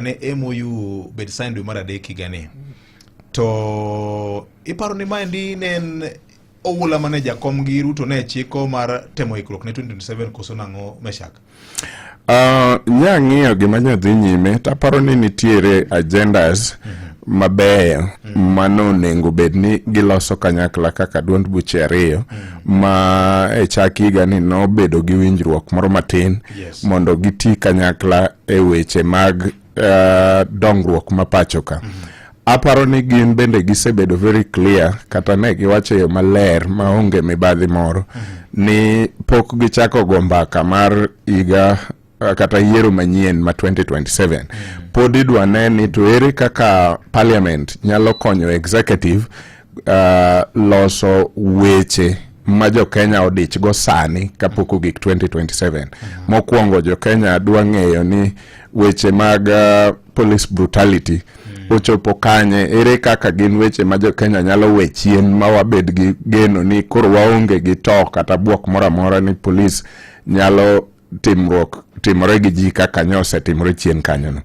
ne MOU bed sign dwe mar adek higani to iparo ni maendi ne en oula mane jakom gi Ruto ne chiko mar temo ikruok ne 2027 koso nang'o Meshak? Uh, ah, nyang'iyo gima nyadhi nyime taparo ni nitiere agendas mm -hmm. mabeyo mm. mano onego bed ni giloso kanyakla kaka duond buche ariyo mm. ma e chak higa ni nobedo gi winjruok moro matin yes. mondo giti kanyakla e weche mag uh, dongruok ma pacho ka mm. aparo ni gin bende gisebedo very clear kata ne giwacho e yo maler maonge mibadhi moro mm. ni pok gichako go mbaka mar higa uh, kata yiero manyien ma 2027 mm. pod idwa ne ni to ere kaka parliament nyalo konyo executive uh, loso weche ma jokenya odich go sani kapok ogik 2027 mm. mokwongo jokenya dwa ng'eyo ni weche mag uh, police brutality mm. ochopo kanye ere kaka gin weche ma jokenya nyalo we chien ma wabed gi geno ni koro waonge gi to kata bwok moro amora ni polis nyalo timruok timore gi ji kaka nyo osetimore chien kanyono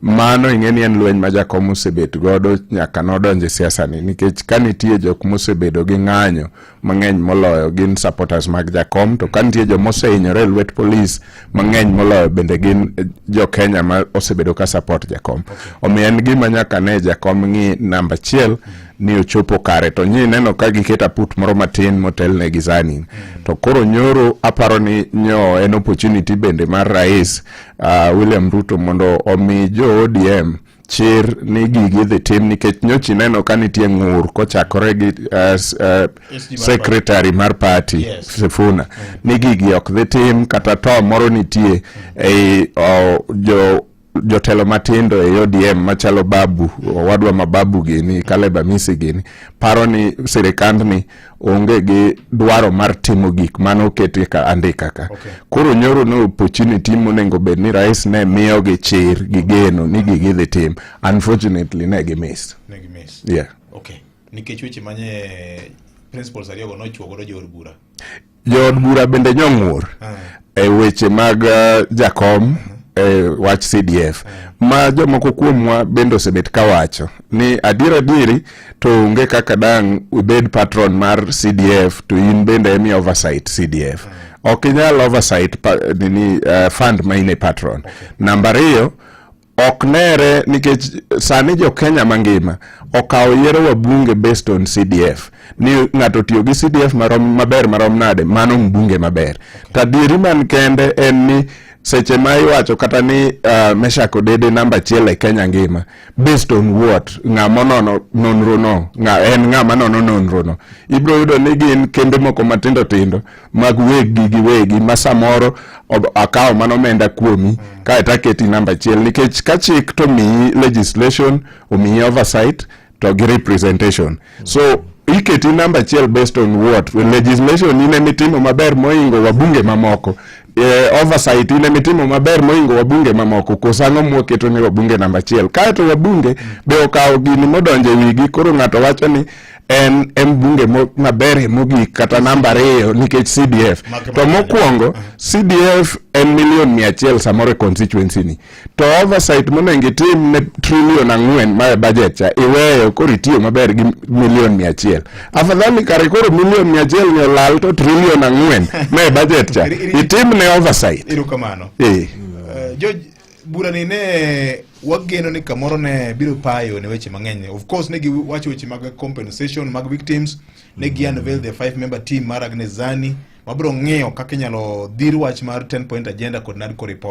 mano ing'e ni en lweny ma jakom osebet godo nyaka nodonje siasa ni nikech ka nitie jok mosebedo gi ng'anyo mang'eny moloyo gin supporters mag jakom to ka nitie joma osehinyore e lwet polis mang'eny moloyo bende gin eh, jo Kenya ma osebedo ka support jakom omiyo en gima nyaka ne jakom ng'i namba achiel ni ochopo kare to nyi neno ka giketa put moro matin motelne gi sani mm. to koro nyoro aparo ni nyo en opportunity bende mar rais uh, William Ruto mondo omi jo ODM chir ni gigi dhi tim nikech nyochi neno ka nitie ng'ur kochakore gi uh, uh, secretary mar party yes. Sifuna mm. ni gigi ok dhi tim kata to moro nitie mm. ei uh, jo jotelo matindo e ODM machalo Babu owadwa ma Babu gini Caleb Amisi gini paro ni sirikand ni onge gi dwaro mar timo gik mane oketi ka andika ka okay. Koro nyoro ne opportunity monego bed ni rais ne miyo gi chir gi geno ni gigi dhi tim unfortunately ne gi miss ne gi miss yeah okay nikech weche manye principles ariyo go nochuo godo jood bura Jood bura bende nyong'ur eh. e weche mag eh, jakom mhm. e wach CDF eh. ma jomoko kuomwa bende osebet ka wacho ni adier adieri to onge kaka dang' ibed patron mar CDF to in bende emi oversight CDF ok inyal oversight nini fund ma in e patron. Namba ariyo ok nere nikech sani jo Kenya mangima okawo yiero wa bunge based on CDF ni ng'ato tiyo gi CDF marom maber marom nade mano mbunge maber to adieri man kende en ni seche ma iwacho kata ni uh, Meshack Odede namba achiel e Kenya ngima based on what ng'a monono nonro no ng'a en ng'a manono nonro no ibro yudo ni gin kembe moko matindo tindo mag weggi gi wegi ma samoro akawo mana omenda kuomi kae to aketi namba achiel nikech ka chik to miyi legislation omiyi oversight to gi representation so iketi namba achiel based on what legislation ine mitimo maber moingo wabunge mamoko eh, oversight ine mitimo maber moingo wabunge mamoko koso ang'o mwaketo ni wabunge namba achiel kaeto wabunge be okawo gini modonjo e wigi koro ng'ato wacho ni en e mbunge maberie mogik kata namba ariyo nikech CDF. To mokwongo CDF en milion mia achiel samoro e constituency ni to oversight monego itim ne trilion ang'wen mae budget cha iweyo koro itiyo maber gi milion mia achiel afadhali kare koro milion mia achiel ni olal to trilion ang'wen mae budget cha itim ne oversight. Irukamano. Eh. Uh, George burani ne wageno ni kamoro ne biro payo ne weche mang'eny of course ne giwacho weche mag compensation mag victims ne gi unveil the five member team mar Agnes Zani mabiro ng'iyo kaka inyalo dhir wach mar 10 point agenda kod NADCO report